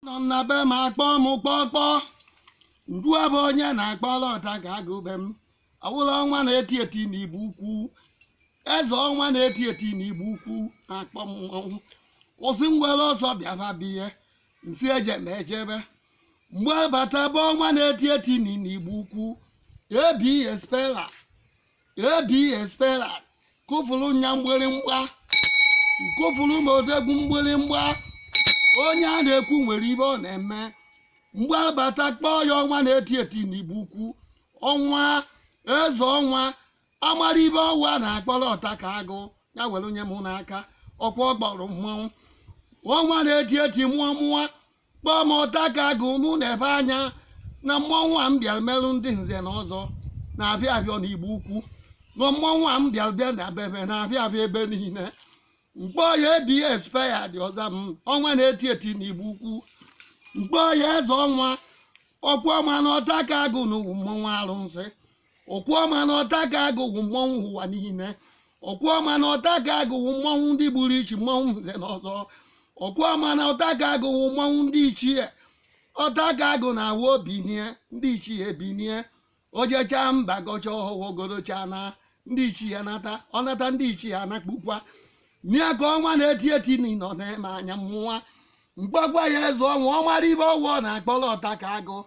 nọ m na be m akpọ m kpọkpọ ndu abụ onye na-akpọlụ ọta ka agụ be m awụla ọnwa na-eti eti na igbo ukwu eze ọnwa na-eti eti na igbo ukwu na-akpọ m ọnwụ kwụsị ngwere ọsọ bịaba biye nsi eje ma ejebe mgbe abata bụ ọnwa na-eti eti na igbo ukwu ebi espela abspera kụfụrụ nya mgbịrịmgba kụfụrụ ma odegwu mgbịrịmgba onye a na-ekwu nwere ibe ọ na-eme mgbe abata kpọọ ya ọnwa na-eti eti n'igbo ukwu ọnwa eze ọnwa amara ibe ọ wụ ọ na-akpọrọ ọta ka agụ ya were nye mụ n'aka ọkwa ọ gbọrọ mmanwụ ọnwa na-eti eti mụọ mụọ kpọọ m ọta ka agụ mụ na-ebe anya na mmọnwụ a m bịara merụ ndị nze na ọzọ na-abịa arịọ na igbo ukwu na mmọnwụ a m bịara bịa na bebe na-abịa abịa ebe niile m kpọọ ya ebi espaya dị ọza m ọnwa na-eti eti na igbo ukwu m kpọọ ya eze ọnwa ọkwa ọma na ọta ka agụ na-awụ mmọnwụ arụsị ọkwa ọma na ọta ka agụ wụ mmọnwụ ụwa niile ọkwa ọma na ọta ka agụ wụ mmọnwụ ndị gburu ichi mmọnwụ nze na ọzọ ọkwa ọma na ọta ka agụ wụ mmọnwụ ndị ichie ọta ka agụ na-awụ o binie ndị ichie ebinie o jecha mba gọcha ọhụwogorocha na ndị ichie nata ọ nata ndị ichie anakpukwa nịa ka ọnwa na-eti eti n'ịnọ na-ene anya mmụwa kpọgwa ya eze ọnwa ọ mara ibe ọ wụ ọ na-akpọrọ ọta ka agụ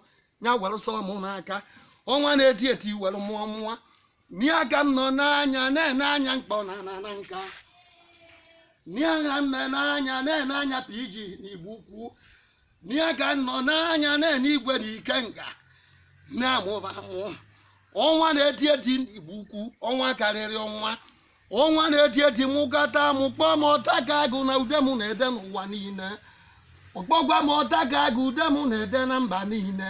ya were sọ mụ n'aka ọnwa na-eti eti were mụọ mụọ nịa ka m nọ n'anya na-ene anya mkpọ na anana nka nịa ka m nọ n'anya na-ene anya pg na igbo ukwu nịa ka m nọ n'anya na-ene igwe na ikenga na-amụba amụ ọnwa na-eti eti na igbo ukwu ọnwa karịrị ọnwa ọnwa na-eti eti mụkata mụ kpọọ m ọta ka agụ na ude mụ na-ede n'ụwa niile ọkpọgwa m ọta ka agụ ude mụ na-ede na mba niile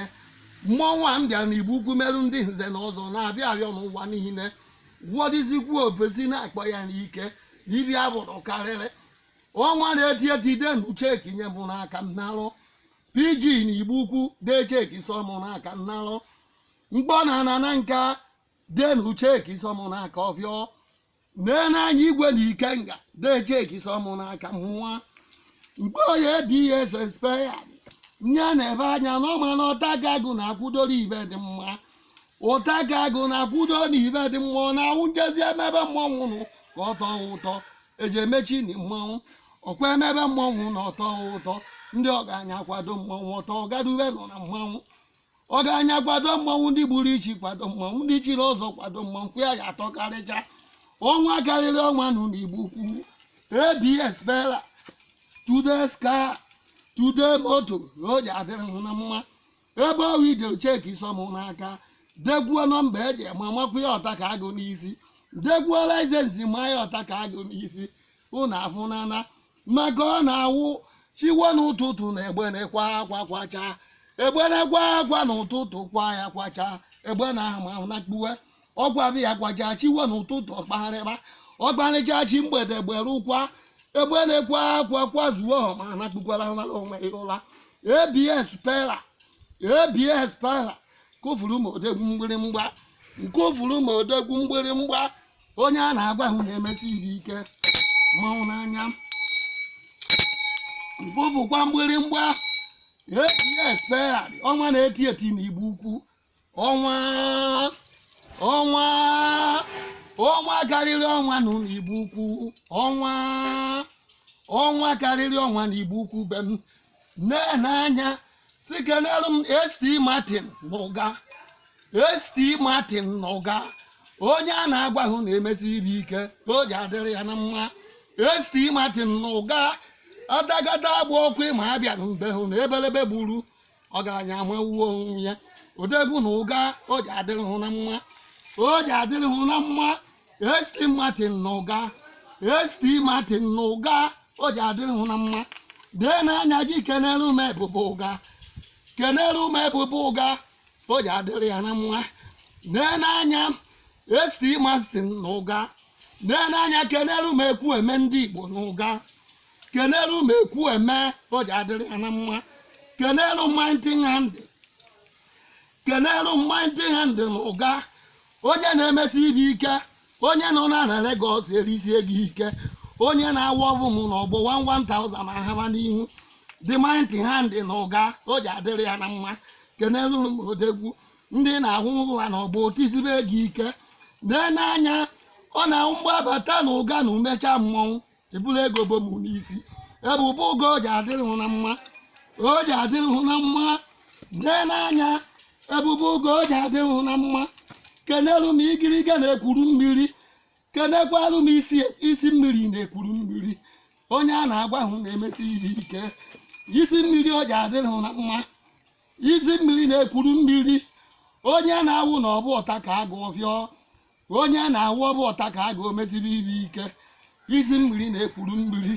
mmọnwụ a m bịara na igbo ukwu merụ ndị nze na ọzọ na-abịa arịọ n'ụwa niile wọdịzikwu ofesi na-akpọ ya n'ike ibi abụrụ karịrị ọnwa na-eti eti denụ cheki nye mụ n'aka m narụ pg na igbo ukwu dee cheki sọ mụ n'aka m narụ mkpọ na anana nka denụ cheki sọ mụ n'aka ọbịọ nee n'anya igwe na ikenga dee cheki sọ mụ n'aka mmụwa kpọọ ya ebi espaya nye na-ebe anya na ọ ma na ọta ka agụ na-akwụdoro ibe dị mma ọta ka agụ na-akwụdo na ibe dị mma ọ na-awụ e jezi emebe mmọnwụ nụ ka ọ tọọ ụtọ eji emechi na mmanwụ ọkwa emebe mmọnwụ na ọ tọọ ụtọ ndị ọgaranya akwado mmọnwụ ọtọ ọgadube nọ na mmanwụ ọgaranya kwado mmanwụ ndị gburu ichi kwado mmanwụ ndị chiri ọzọ kwado mmanwụ fụ ya ya atọ karịcha ọnwa karịrị ọnwa nụ n'igbo ukwu abs pera today's car today moto na o ji adịrị hụ na mma ebe ọ wụ i dere cheki sọ m n'aka dekwuo nọmba eji ma makwụ ya ọta ka agụ n'isi dekwuo laịsensị ma ya ọta ka agụ n'isi ụnụ afụnana maka ọ na-awụ chi wo n'ụtụtụ na egbene akwa akwa kwacha egbene akwa akwa n'ụtụtụ kwa ya kwacha egbene ama na kpuwe ọgwa bụ ya kwacha chi wo n'ụtụtụ ọkpagharịba ọkparịcha chi mgbede gbere ụkwa egbene akwa akwa kwazuo ọ ma na kpukwara onwe ya ụla abs pera abs pera kụfuru m odegwu mgbịrịmgba nkụfuru m odegwu mgbịrịmgba onye a na-agwa ahụ na-emesi iri ike mmanwụ n'anya nkụfukwa mgbịrịmgba abs pera ọnwa na-eti eti na igbo ukwu ọnwa ọnwa ọnwa karịrị ọnwa nụ na igbo ukwu ọnwa ọnwa karịrị ọnwa na igbo ukwu be m nee n'anya si kenere m st martin na ụga st martin na ụga onye a na-agwa hụ na-emesi iri ike ka o ji adịrị ya na mma st martin na ụga adagada agba ọkụ ma abịa na mbe hụ na ebelebe gburu ọgaranya amawuo onwe ya odegwu na ụga o ji adịrị hụ na mma o ji adịrị hụ na mma ST Martin na ụga ST Martin na ụga o ji adịrị hụ na mma dee n'anya gị kenere m ebube ụga kenere m ebube ụga o ji adịrị ya na mma dee n'anya ST Martin na ụga dee n'anya kenere m ekwu eme ndị Igbo na ụga kenere m ekwu eme o ji adịrị ya na mma kenere mighty hand kenere mighty hand na ụga onye na-emesi ibe ike onye nọ na na Lagos erisie gị ike onye na-awụ ọbụ m na ọgbọ 1000 ma haba n'ihu the mighty hand na ụga o ji adịrị ya na mma kenelu m odegwu ndị na-ahụ ụwa na ọgbọ otizibe gị ike lee n'anya ọ na-ahụ mgbe abata na ụga na umecha mmọnwụ eburu ego bụ m n'isi ebube ụga o ji adịrị hụ na mma o ji adịrị hụ na mma lee n'anya ebube ụga o ji adịrị hụ na mma kenelu m igiriga na-ekwuru mmiri kenekwalu m isi mmiri na-ekwuru mmiri onye a na-agwa hụ na-emesi ihe ike isi mmiri o ji adịrị hụ na mma isi mmiri na-ekwuru mmiri onye na-awụ na ọbụ ọta ka agụ ọfịọ onye a na-awụ ọbụ ọta ka agụ omesiri ibe ike isi mmiri na ekwulummiri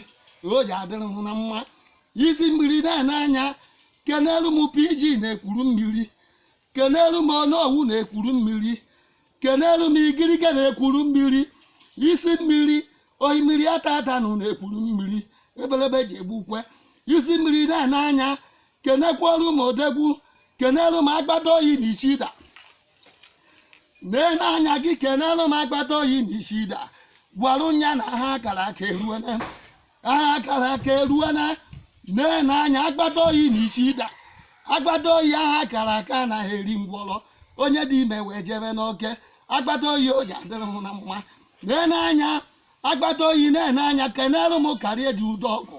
o ji adịrị hụ na mma isi mmiri na-ene anya kenelu m pg na ekwulummiri kenelu m onowu na ekwulummiri kenelu m igirigi na ekwulummiri isi mmiri osimiri ata ata na ekwulummiri ebelebe ji egbu ukwe isi mmiri na-ene anya kenekwuoru m odegwu kenelu m agbata oyi na ichida nee n'anya gị kenelu m agbata oyi na ichida gwara nya na aha a kara aka eruona aha a kara aka eruona nee n'anya agbata oyi na ichida agbata oyi aha a kara aka anaghị eri ngwọrọ onye dị ime wee jebe n'oke agbata oyi o ji adịrị hụ na mma nee n'anya agbata oyi na-ene anya kenelu m karịa dị udo ọgụ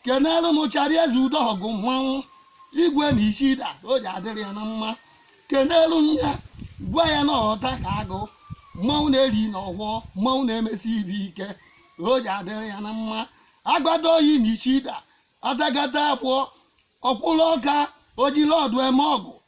kenere m chara eze udo ọgụ mmanwụ igwe na ichida o ji adịrị ya na mma kenere m ya gwa ya na ọta ka agụ mmanwụ na-eri na ọgwọ mmanwụ na-emesi ibe ike o ji adịrị ya na mma agbata oyi na ichida atakata abụọ ọkwụrụ ọka ojiri ọdụ eme ọgụ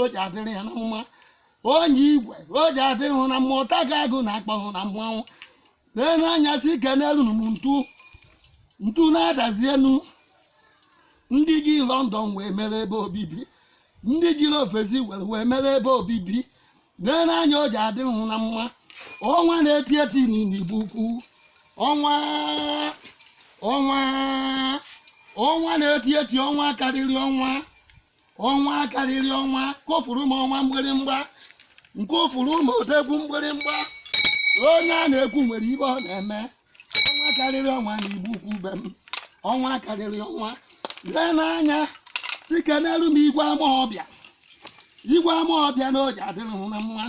o ji adịrị ya na mma onye igwe o ji adịrị hụ na mma ọta ka agụ na-akpọ hụ na mmanwụ nee n'anya si kenelu m ntu ntu na-adazi enu ndị ji lọndọn wee mere ebe obibi ndị jiri ofesi were mere ebe obibi nee n'anya o ji adịrị hụ na mma ọnwa na-eti eti n'igbo ukwu ọnwa ọnwa ọnwa na-eti eti ọnwa karịrị ọnwa ọnwa karịrị ọnwa kofuru m ọnwa mgbịrịmgba nke ofuru ma odegwu mgbịrịmgba onye a na-ekwu nwere ibe ọ na-eme ọnwa karịrị ọnwa n'igbo ukwu be m ọnwa karịrị ọnwa lee n'anya si kenelu m igwe amaọbịa igwe amaọbịa na o ji adịrị hụ na mma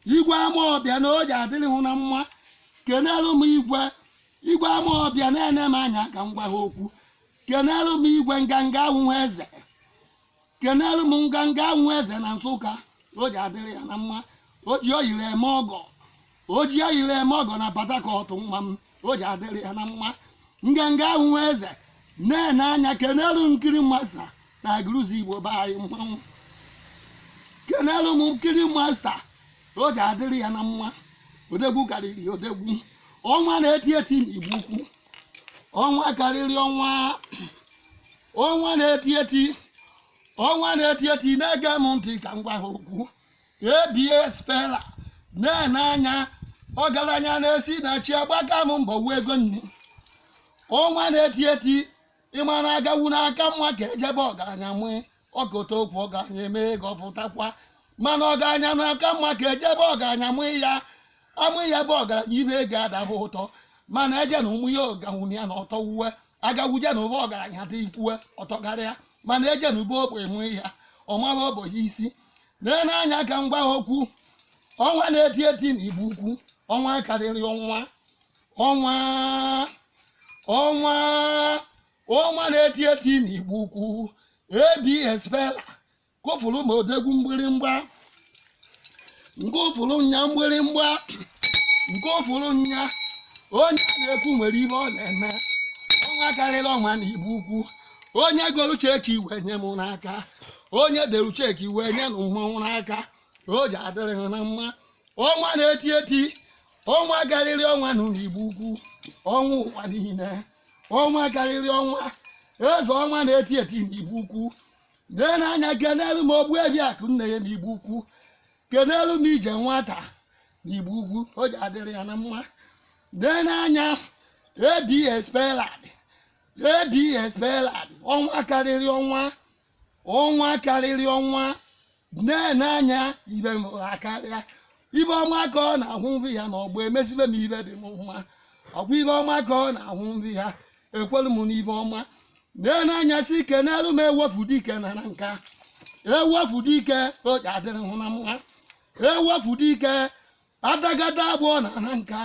igwe amaọbịa na o ji adịrị hụ na mma kenelu m igwe igwe amaọbịa na-ene m anya ka m gwa ha okwu kenelu m igwe nganga ahụhụ eze kenelu m nganga ahụhụ eze na nsụka o ji adịrị ya na mma o ji oyiri eme ọgọ o ji oyiri eme ọgọ na patakọt nwa m o ji adịrị ya na mma nganga ahụhụ eze na-ene anya kenelu nkiri masta na agụlụzigbo be anyị mmanwụ kenelu m nkiri masta o ji adịrị ya na mma odegwu karịrị odegwu ọnwa na-eti eti n'igbo ukwu ọnwa karịrị ọnwa ọnwa na-eti eti ọnwa na-eti eti na-ege m ntị ka m gwa ha okwu abs spela na-ene anya ọgaranya na-esi na chi agbaka m mbọ wụ ego nni ọnwa na-eti eti ịma na agawu n'aka mma ka ejebe ọgaranya nwee ọkọta okwu ọgaranya eme ego ọfụtakwa mana ọgaranya n'aka mma ka ejebe ọgaranya mụ ya amụ ya bụ ọgaranya ibe ego adahụ ụtọ mana eje na ụmụ ya ọgawu ya na ọtọ wuwe agawuje na ụba ọgaranya dị ikwuwe ọtọkarịa mana eje na ube ogbe nwee ya ọmara ogbenye isi lee n'anya ka m gwa ha okwu ọnwa na-eti eti na igbo ukwu ọnwa karịrị ọnwa ọnwa ọnwa ọnwa na-eti eti n'igbo ukwu abs bela kụfụrụ ma odegwu mgbịrịmgba nke ụfụrụ nya mgbịrịmgba nke ụfụrụ nya onye a na-ekwu nwere ihe ọ na-eme ọnwa karịrị ọnwa na igbo ukwu onye golu cheki wee nye m n'aka onye delu cheki wee nye na mmanwụ n'aka o ji adịrị ha na mma ọnwa na-eti eti ọnwa karịrị ọnwa na igbo ukwu ọnwa ụwa niile ọnwa karịrị ọnwa eze ọnwa na-eti eti na igbo ukwu lee n'anya kenelu m ogbuefi akụ nne ya na igbo ukwu kenelu m ije nwata na igbo ukwu o ji adịrị ya na mma lee n'anya abs belad abs belad ọnwa karịrị ọnwa ọnwa karịrị ọnwa na-ene anya ibe m hụrụ akarịa ive ọma ka ọ na-ahụ nri ya na ọgbọ emezive ive dị mma ọkwa ive ọma ka ọ na-ahụ nri ya ekwelu m n'ive ọma na-ene anya sị kenelu m ewefu dike na nanka ewefu dike o ji adịrị hụ na mma ewefu dike adagada abụọ na nanka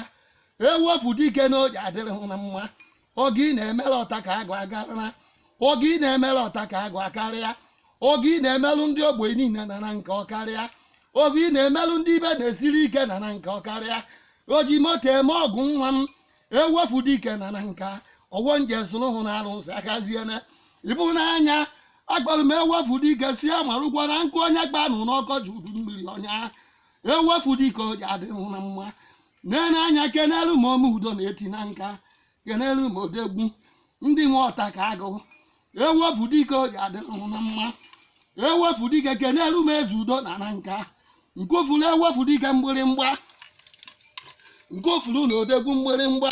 ewefu dike na o ji adịrị hụ na mma oge ị na-emere ọta ka agụ akarịa oge ị na-emere ọta ka agụ akarịa oge ị na-emerụ ndị ogbenye niile na nanka ọkarịa oge ị na-emerụ ndị ibe na-esiri ike na nanka ọkarịa o ji moto eme ọgụ nwa m ewefu dike na nanka ọwọ nje sụrụ hụ na arụsị akaziene ịbụ n'anya akpọrọ m ewefu dike sị amarụgwọ na nkụ onye kpalụ n'ọkọchị udu mmiri ọ nyaa ewefu dike o ji adịrị hụ na mma na-ene anya kenelu m ome udo na-eti nanka kenelu m odegwu ndị nwe ọta ka agụ ewefu dike o ji adịrị hụ na mma ewefu dike kenelu m eze udo na nanka nkofulu ewefu dike mgbịrịmgba nkofulu na odegwu mgbịrịmgba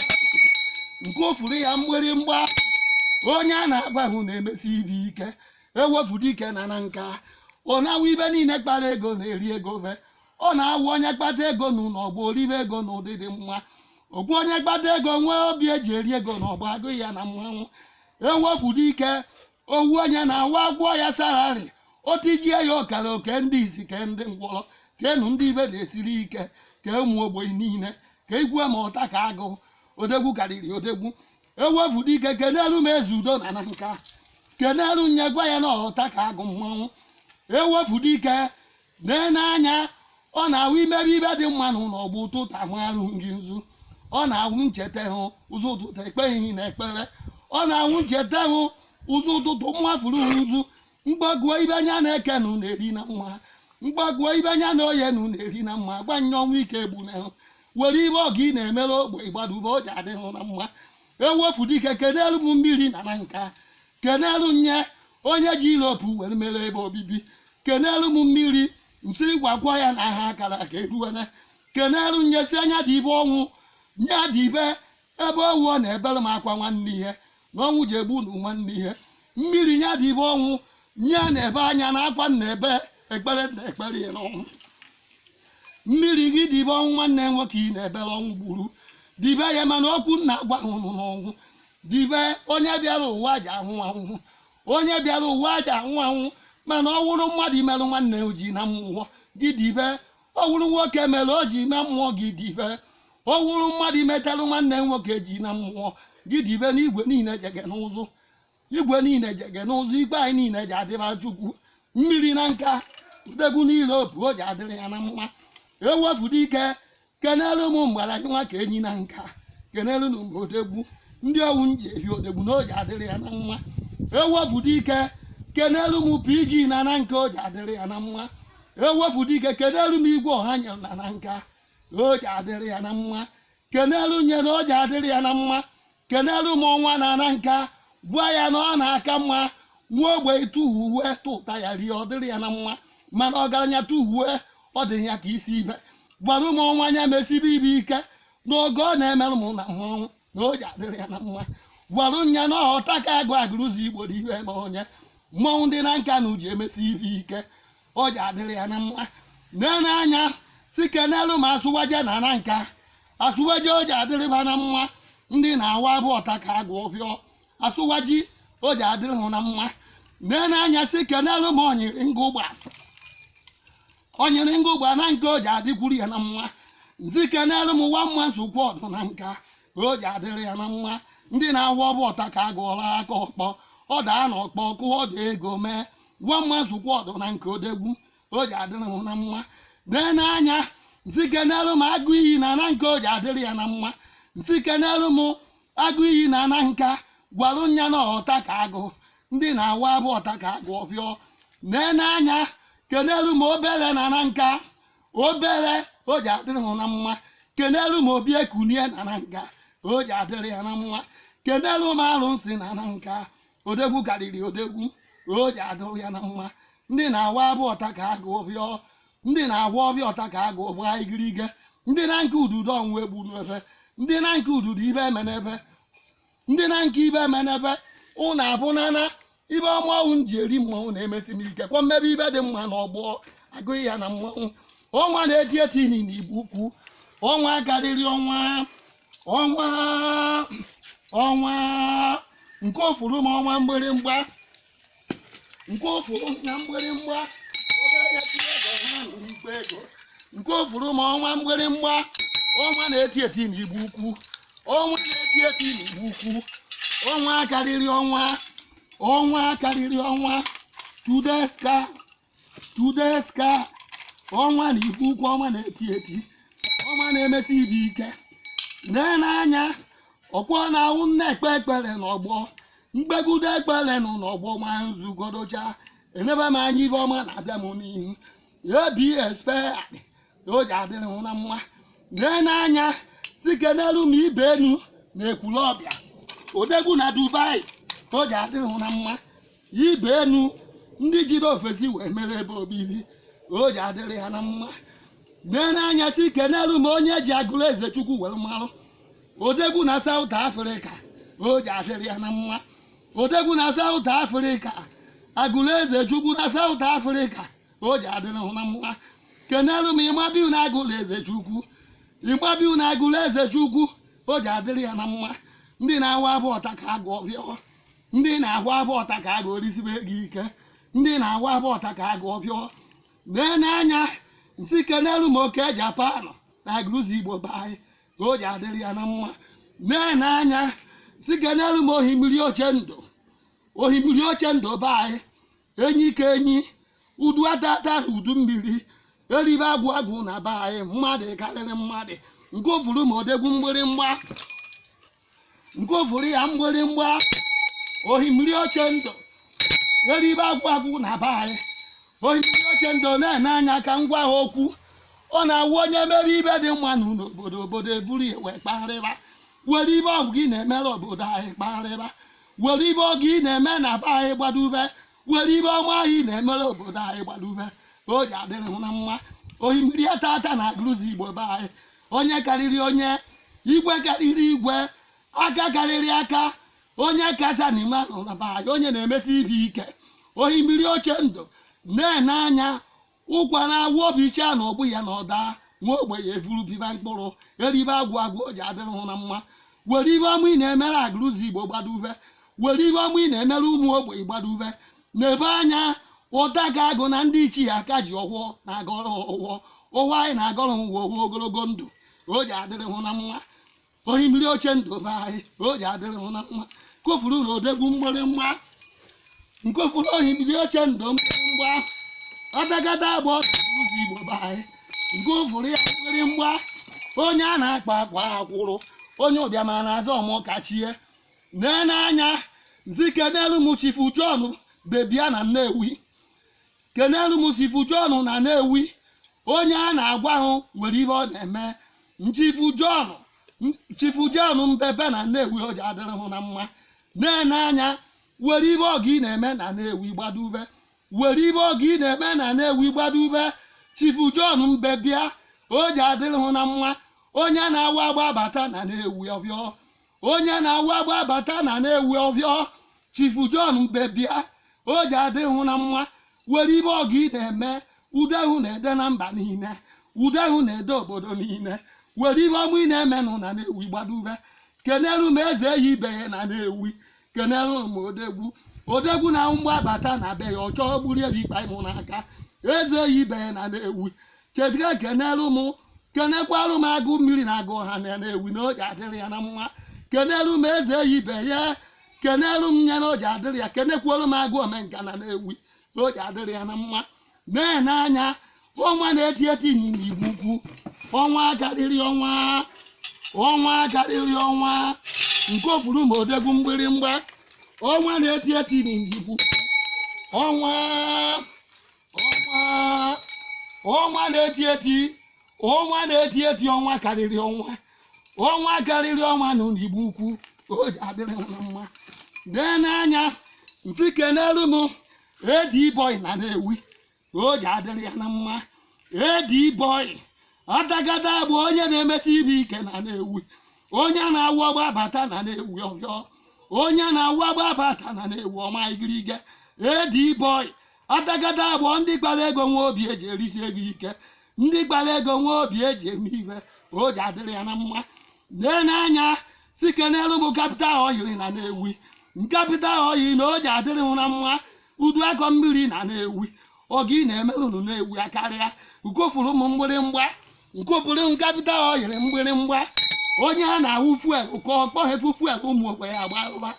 nkofulu ya mgbịrịmgba onye a na-agwa hụ na-emesi ibe ike ewefu dike na nanka ọ na-awụ ibe niile kpara ego na-eri ego ve ọ na-awụ onye kpata ego na ọgbọ o ribe ego na ụdị dị mma okwu onye kpata ego nwee obi eji eri ego na ọgbọ agụ ya na mmanwụ ewefu dike ọ wụ onye na-awa agwọ ya sararị otijie ya ọkara oke ndị isi ke ndị ngwọrọ kenu ndị ibe na-esiri ike ke ụmụ ogbenye niile ka igwe ma ọta ka agụ odegwu karịrị odegwu ewefu dike kenelu m eze udo na nanka kenelu nye gwa ya na ọta ka agụ mmanwụ ewefu dike na-ene anya ọ na-awụ imebe ibe dị mma na ụlọ ọgbụ ụtụtụ ahụ arụ nri nzu ọ na-awụ ncheta hụ ụzọ ụtụtụ ekpeghị na ekpere ọ na-awụ ncheta hụ ụzọ ụtụtụ mmafuru nzu mgbaguo ibe anya na eke na na-eri na mma mgbaguo ibe anya na oye na na-eri na mma gwa nye ọnwa ike egbunahụ were ibe ọgọ ị na-emere ogbei gbadube o ji adịghị na mma ewefu dike kenelu m mmiri na nanka kenelu nye onye ji ilopu were mere ebe obibi kenelu m mmiri m sị gwakwa ya na ha akara aka eruwele kenelu nye sị nya dibe ọnwụ nya dibe ebe ọ wụ ọ na-ebere m akwa nwanne ihe na ọnwụ ji egbu na nwanne ihe mmiri nya dibe ọnwụ nya na-ebe anya na akwa na ebe ekpere na ekpere ya n'ọnwụ mmiri gị dibe ọnwụ nwanne nwoke ị na-ebere ọnwụ gburu dibe ya mana okwu m na-agwa hụrụ n'ọnwụ dibe onye bịara ụwa ji anwụ anwụ onye bịara ụwa ji anwụ anwụ mana ọ wụrụ mmadụ imerụ nwanne o ji na mmụọ gị dibe ọ wụrụ nwoke mere o ji na mmụọ gị dibe ọ wụrụ mmadụ imetalụ nwanne m nwoke ji na mmụọ gị dibe n'igwe niile jege n'ụzụ igwe niile jege n'ụzụ igwe anyị niile ji adịba chukwu mmiri nanka udegbu niile opu o ji adịrị ya na mma ewefu dike kenelu m mgbara gị nwa ka enyi nanka kenelu na mgbe odegwu ndị owu m ji ehi odegwu na o ji adịrị ya na mma ewefu dike kenelu m pg na nanka o ji adịrị ya na mma ewefu dike kenelu m igwe ọha nyere na nanka na o ji adịrị ya na mma kenelu nye na o ji adịrị ya na mma kenelu m ọnwa na nanka gwa ya na ọ na-aka mma nwa ogbei tụ uwe tụta ya rie ọ dịrị ya na mma mana ọgaranya tụ uwe ọ dị ya ka isi ibe gwara m ọnwa nya mesibe ibe ike n'oge ọ na-emerụ m na mmanwụ na o ji adịrị ya na mma gwara nya na ọ wụ ọta ka agụ agụrụzigbo dị iwe ma onye mmọnwụ ndị nanka na o ji emesi ife ike o ji adịrị ya na mma nene anya si kenelu m asiwaju na nanka asiwaju o ji adịrịba na mma ndị na-awa bụ ọta ka agụ ọfịọ asiwaju o ji adịrị hụ na mma nee n'anya si kenelu m onyiri ngụ ụgba onyiri ngụ ụgba nanka o ji adịkwuru ya na mma m sị kenelu m nwa mma nzukọ ọdụ nanka o ji adịrị ya na mma ndị na-ahụ ọbụ ọta ka agụ ọla aka ọkpọ ọ daa na ọkpọ kụọ ọdụ ego mee nwa mma nzukọ ọdụ nanka odegwu o ji adịrị hụ na mma nee n'anya m sị kenelu m agụ iyi na nanka o ji adịrị ya na mma m sị kenelu m agụ iyi na nanka gwalụ nya na ọta ka agụ ndị na-awa abụ ọta ka agụ ọbịọ nee n'anya kenelu m obele na nanka obele o ji adịrị hụ na mma kenelu m obiekunie na nanka o ji adịrị ya na mma kenelu m arụsị na nanka odegwu karịrị odegwu o ji adịrị ya na mma ndị na-awa abụ ọta ka agụ ọbịọ ndị na-agwọ ọbịa ọta ka agụ bụ ha igirige ndị na nke ududo ọnwụ egbu n'ebe ndị na nke ududo ibe eme n'ebe ndị na nke ibe eme n'ebe ụnụ abụ nana ibe mmọnwụ m ji eri mmọnwụ na-emesi m ike kwa mmebe ibe dị mma na ọgbọ agụghị ya na mmọnwụ ọnwa na-eti eti ini na igbo ukwu ọnwa karịrị ọnwa ọnwa nke ofuru m ọnwa mgbịrịmgba nke ofuru na mgbịrịmgba obere ya tiri ego ha nụrụ ikpe ego nke ofuru m ọnwa mgbịrịmgba ọnwa na-eti eti na igbo ukwu ọnwa na-eti eti na igbo ukwu ọnwa karịrị ọnwa ọnwa karịrị ọnwa tudeska tudeska ọnwa na igbo ukwu ọnwa na-eti eti ọnwa na-emesi ibe ike lee n'anya ọkwa na ahụ nne ekpe ekpere n'ọgbọ mkpegudo ekpere nụ n'ọgbọ ma nzugodocha enebe m anya ibe ọma na-abịa m n'ihu abs peyadị o ji adịrị hụ na mma lee n'anya si kenelu m ibe enu na ekwulọbịa odegwu na dubai o ji adịrị hụ na mma ibe enu ndị jiri ofesi wee mere ebe obibi o ji adịrị ha na mma lee n'anya si kenelu m onye ji agụlụ eze chukwu were marụ odegwu na south africa o ji adịrị ya na mma odegwu na south africa agụlụ eze chukwu na south africa o ji adịrị hụ na mma kenelu m ịmabiu na agụlụ eze chukwu ịmabiu na agụlụ eze chukwu o ji adịrị ya na mma ndị na-ahụ abụ ọta ka agụ ọbịọ ndị na-ahụ abụ ọta ka agụ orisibe gị ike ndị na-ahụ abụ ọta ka agụ ọbịọ nee n'anya si kenelu m oke japan na agụlụzigbo be anyị o ji adịrị ya na mma na-ene anya si kenelu m ohimiri oche ndụ ohimiri oche ndụ be anyị enyi ka enyi udu atata na udu mmiri eribe agwụ agwụ na be anyị mmadụ karịrị mmadụ nke ofuru ma odegwu mgbịrịmgba nke ofuru ya mgbịrịmgba ohimiri oche ndụ eribe agwụ agwụ na be anyị ohimiri oche ndụ na-ene anya ka m gwa ha okwu ọ na-awụ onye mere ibe dị mma na ụlọ obodo obodo eburu ya wee kpagharịba were ibe ọgụ ị na-emere obodo anyị kpagharịba were ibe ọgụ ị na-eme na be anyị gbadube were ibe ọma ị na-emere obodo anyị gbadube ka o ji adịrị hụ na mma ohimiri atata na Agụrụzigbo be anyị onye karịrị onye igwe karịrị igwe aka karịrị aka onye kacha n'ime anọ na be anyị onye na-emesi ibe ike ohimiri oche ndụ na-ene anya ụkwa na-awụ o bichaa na ọgbụ ya na ọ daa nwa ogbenye evuru biba mkpụrụ eribe agwụ agwụ o ji adịrị hụ na mma were ibe ọma ị na-emere Agụrụzigbo gbadube were ibe ọma ị na-emere ụmụ ogbenye gbadube na-ene anya ọtaka agụ na ndị ichie aka ji ọfọ na-agọrọ hụ ọfọ anyị na-agọrọ hụ ọfọ ogologo ndụ o ji adịrị hụ na mma ohimiri oche ndụ be anyị o ji adịrị hụ na mma kofuru na odegwu mgbịrịmgba nkofuru ohimiri oche ndụ mgbịrịmgba ọdagada Agụrụzigbo be anyị nke ofuru ya mgbịrịmgba onye a na-akwa akwa akwụrụ onye ụbịam na-azọ ọmụ kachie nee n'anya nsị kenelu m chifu John Mbebia na Nnewi kenelu m chifu John na Nnewi onye a na-agwa ahụ nwere ihe ọ na-eme chifu John Mbebia na Nnewi o ji adịrị hụ na mma na-ene anya were ibe ọgụ ị na-eme na Nnewi gbadube were ibe ọgụ ị na-eme na Nnewi gbadube chifu John Mbebia o ji adịrị hụ na mma onye na-awụ agba abata na Nnewi ọbịọ onye na-awụ agba abata na Nnewi ọbịọ chifu John Mbebia o ji adịrị hụ na mma were ibe ọgụ ị na-eme ude hụ na-ede na mba niile ude hụ na-ede obodo niile were ibe ọma ị na-emenụ na Nnewi gbadube kenelu m eze eyi ibe ya na Nnewi kenelu m odegwu odegwu na mgbe abata na be ya ọchọ gburu ebi ikpa ịmụ n'aka eze eyi ibe ya na Nnewi chedịga kenere m kenekwara m agụ mmiri na agụ ha na Nnewi na o ji adịrị ya na mma kenere m eze eyi ibe ya kenere m ya na o ji adịrị ya kenekwara m agụ omenka na Nnewi na o ji adịrị ya na mma na-ene anya ọnwa na-eti eti n'Igbo ukwu ọnwa karịrị ọnwa ọnwa karịrị ọnwa nke ofuru ma odegwu mgbịrịmgba ọnwa na-eti eti n'Igbo ukwu ọnwa ọnwa ọnwa na-eti eti ọnwa na-eti eti ọnwa karịrị ọnwa ọnwa karịrị ọnwa nọ n'Igbo ukwu o ji adịrị hụ na mma nee n'anya nsị kenelu m Eddy Boy na Nnewi o ji adịrị ya na mma Eddy Boy ọdagada bụ onye na-emesi ibe ike na Nnewi onye na-awụ ọgba abata na Nnewi ọbịọ onye na-awụ ọgba abata na Nnewi ọma igirige Eddy Boy atakata agbọ ndị kpara ego nwee obi eji erisi ego ike ndị kpara ego nwee obi eji eme ife o ji adịrị ya na mma nene anya si kenelu m capital oil na nnewi capital oil na o ji adịrị m na mma udu akọ mmiri na nnewi ọgọ ị na-emerụ nnewi akarịa nkụfuru m mgbịrịmgba nkụfuru capital oil mgbịrịmgba onye a na-awụ fuel ka ọ kpọghefu fuel ụmụ ogbenye agbara ụba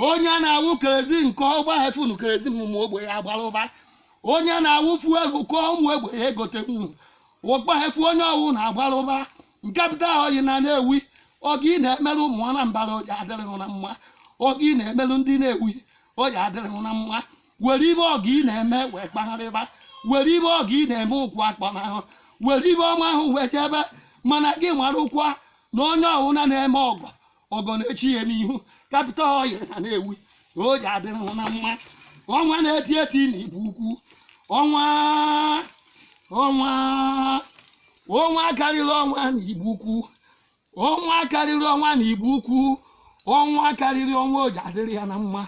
onye a na-awụ kerosene nke ọgbaghefu nu kerosene ụmụ ogbenye agbara ụba onye a na-awụ fuel ka ụmụ ogbenye egote nwuru ọ kpọghefu onye ọwụna agbara ụba capital oil na nnewi ọgọ ị na-emerụ ụmụ anambara o ji adịrị gị na mma ọgọ ị na-emerụ ndị nnewi ọ ya adịrị hụ na mma were ibe ọgọ ị na-eme wee kpagharịba were ibe ọgọ ị na-eme ụkwụ akpọna hụ were ibe ọma ahụ wee jebe mana gị marụkwa na onye ọwụna na-eme ọgọ ọgọ na-eche ya n'ihu capital oil na nnewi o ji adịrị hụ na mma ọnwa na-eti eti na igbo ukwu ọnwa ọnwa ọnwa karịrị ọnwa na igbo ukwu ọnwa karịrị ọnwa na igbo ukwu ọnwa karịrị ọnwa oji adịrị ya na mma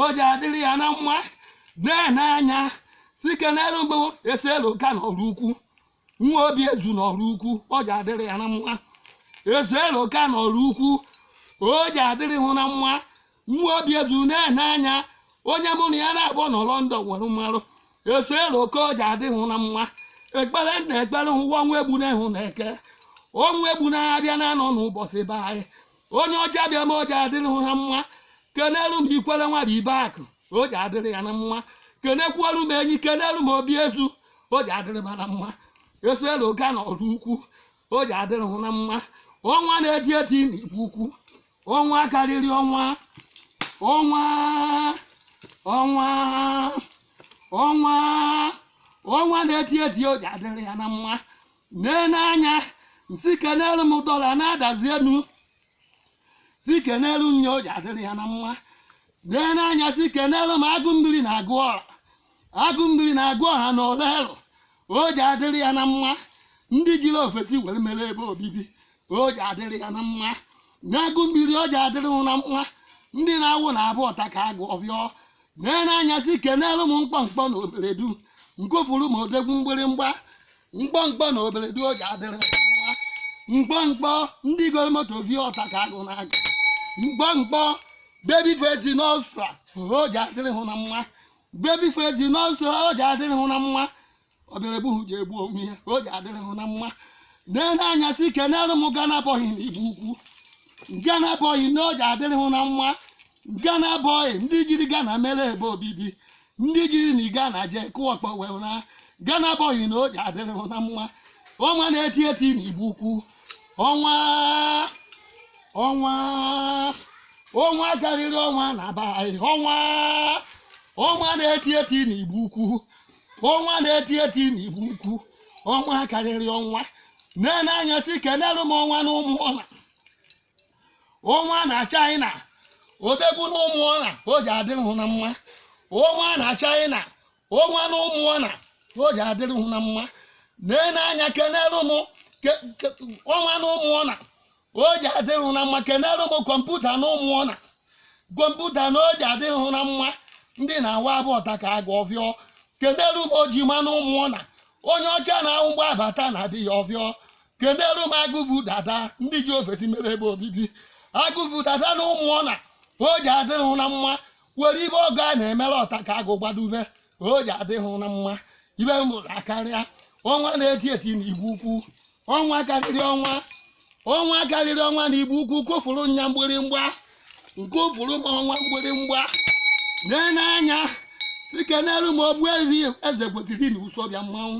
oji adịrị ya na mma nene anya si kenere m eselu ka n'oraukwu nwa obi ezu n'oraukwu oji adịrị ya na mma eselu ka n'oraukwu oji adịrị hụ na mma nwa obi ezu nene anya onye mụ na ya na-abụ nọ london were marụ eselu ka oji adịrị na mma ekpere na ekpere hụwa ọnwụ egbuna hụ na eke ọnwụ egbuna abịa na anọ n'ụbọchị be anyị onye ọcha bịa ma oji adịrị ha mma kenelu m ikwere nwara ibe akụ oji adịrị ya na mma kenekwuolu m enyi kenelu m obi ezu oji adịrị m na mma eselu ka na oraukwu oji adịrị hụ na mma ọnwa na-eti eti na igbo ukwu ọnwa karịrị ọnwa ọnwa ọnwa ọnwa ọnwa na-eti eti o ji adịrị ya na mma nene anya si kenelu m dọla na adazi enu si kenelu nya o ji adịrị ya na mma nene anya si kenelu m agụ mmiri na-agụ ọra agụ mmiri na-agụ ọha na orlu o ji adịrị ya na mma ndị jiri ofesi were mere ebe obibi o ji adịrị ya na mma n'agụ mmiri o ji adịrị m na mma ndị na-awụ na abụ ọta ka agụ ọbịọ nene anya si kenelu m mkpọmkpọ na obeledu nkụfuru m odegwu mgbịrịmgba mkpọmkpọ na obeledu o ji adịrị m na mma mkpọmkpọ ndị goro moto vi ọta ka agụ na-aga mkpọmkpọ baby face n'austria o ji adịrị hụ na mma baby face n'ọsọ o ji adịrị hụ na mma ọ bịara egbu hụ ji egbu onwe ya o ji adịrị hụ na mma na-ele anya si kenere m ghana boy na igbo ukwu ghana boy na o ji adịrị hụ na mma ghana boy ndị jiri ghana mere ebe obibi ndị jiri na ghana je kụọ ọkpọ wee na ghana boy na o ji adịrị hụ na mma ọnwa na-eti eti na igbo ukwu ọnwa ọnwa ọnwa karịrị ọnwa na be anyị ọnwa ọnwa na-eti eti n'igbo ukwu ọnwa na-eti eti n'igbo ukwu ọnwa karịrị ọnwa na-ene anya si kenere m ọnwa na ụmụọna ọnwa na china odogwu na ụmụọna o ji adịrị hụ na mma ọnwa na china ọnwa na ụmụọna o ji adịrị hụ na mma nee n'anya kenere m ke- ke- ọnwa na ụmụọna o ji adịrị hụ na mma kenere m kọmputa na ụmụọna kọmputa na o ji adịrị hụ na mma ndị na-awa abụ ọta ka agụ ọfịọ kenere m ojima na ụmụọna onye ọcha na-ahụ mgbe abata na adị ya ọfịọ kenere m agụ bu dada ndị ji ofesi mere ebe obibi agụ bu dada na ụmụọna o ji adịrị hụ na mma were ife ọgọ a na-emere ọta ka agụ gbadube o ji adịrị hụ na mma ife m fụrụ akarịa ọnwa na-eti eti na igbo ukwu ọnwa karịrị ọnwa ọnwa karịrị ọnwa na igbo ukwu kụọrụ nya mgbịrịmgba kụọrụ m ọnwa mgbịrịmgba nee n'anya si kenelu m ogbuefi eze kwesịrị na isuọfịa mmanwụ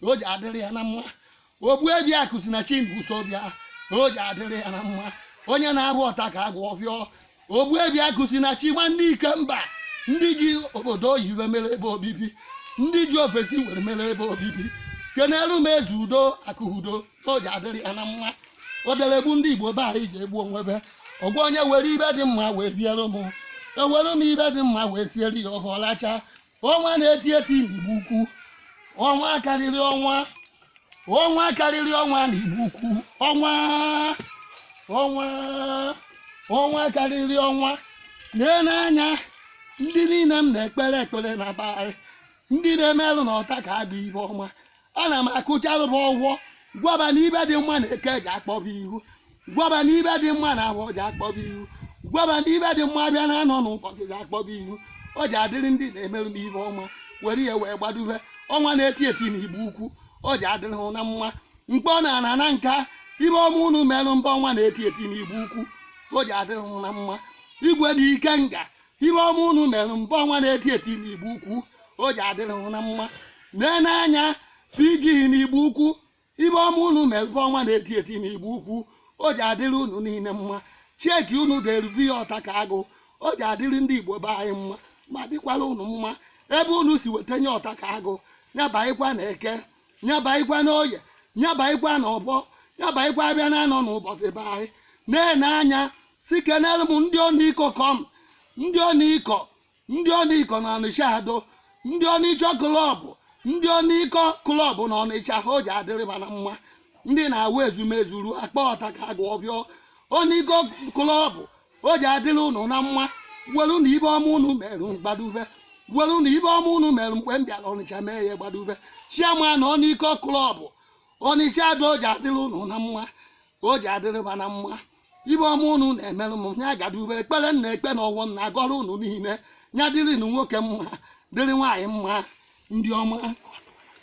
na o ji adịrị ya na mma ogbuefi akụ si na chi na isuọfịa na o ji adịrị ya na mma onye na-abụ ọta ka agụ ọfịọ ogbuefi akụ si na chi nwanne ikemba ndị ji obodo oyibo mere ebe obibi ndị ji ofesi were mere ebe obibi kenelu m eze udo akụ udo na o ji adịrị ya na mma ọ bịara egbu ndị igbo be anyị ji egbu onwe fa ọgwa onye were ife dị mma wee meere m ewere m ife dị mma wee siere ya ofe ọ lacha ọnwa na-eti eti n'igbo ukwu ọnwa karịrị ọnwa ọnwa karịrị ọnwa n'igbo ukwu ọnwa ọnwa ọnwa karịrị ọnwa lee n'anya ndị niile m na-ekpere ekpere na be anyị ndị na-emerụ na ọta ka agụ ife ọma ana m akwụcharụ fa ụgwọ gwa fa na ife dị mma na eke ji akpọ fa ihu gwa fa na ife dị mma na afọ ji akpọ fa ihu gwa fa na ife dị mma bịa na anọ n'ụbọchị ji akpọ fa ihu o ji adịrị ndị na-emerụ m ife ọma were ya wee gbadube ọnwa na-eti eti na igbo ukwu o ji adịrị hụ na mma mkpọ na ana nanka ife ọma unu merụ mba ọnwa na-eti eti na igbo ukwu o ji adịrị hụ na mma igwe na ikenga ife ọma unu merụ mba ọnwa na-eti eti na igbo ukwu o ji adịrị hụ na mma nee n'anya pg na igbo ukwu Ibe ọma unu mebe ọnwa na-eti eti n'Igbo Ukwu, o ji adịrị unu niile mma. Cheque unu deruvi ya ọta ka agụ, o ji adịrị ndị Igbo be anyị mma ma dịkwara unu mma. Ebe unu si weta nye ọta ka agụ, ya baịkwa na eke, ya baịkwa na oye, ya baịkwa na ọbọ, ya baịkwa abịa na anọ n'ụbọchị be anyị. Na-ene anya sị kenere m ndị ọnịkọ kọm, ndị ọnịkọ ndị ọnịkọ na ọnịcha ado ndị ọnịcha club ndị ọnịkọ club na ọnịcha ha o ji adịrị ba na mma ndị na-awụ ezumezu ruo akpa ọta ka agụ ọbịọ ọnịkọ club o ji adịrị ụnụ na mma welu na ibe ọma ụnụ merụ gbadube welu na ibe ọma ụnụ merụ mgbe m bịara ọnịcha mee ya gbadube chairman ọnịkọ club ọnịcha ado o ji adịrị ụnụ na mma o ji adịrị ba na mma ibe ọma unu na-emerụ m ya gadube ekpere na-ekpe na ọwọ m na-agọrọ unu niile ya dịrị nụ nwoke mma dịrị nwaanyị mma ndị ọma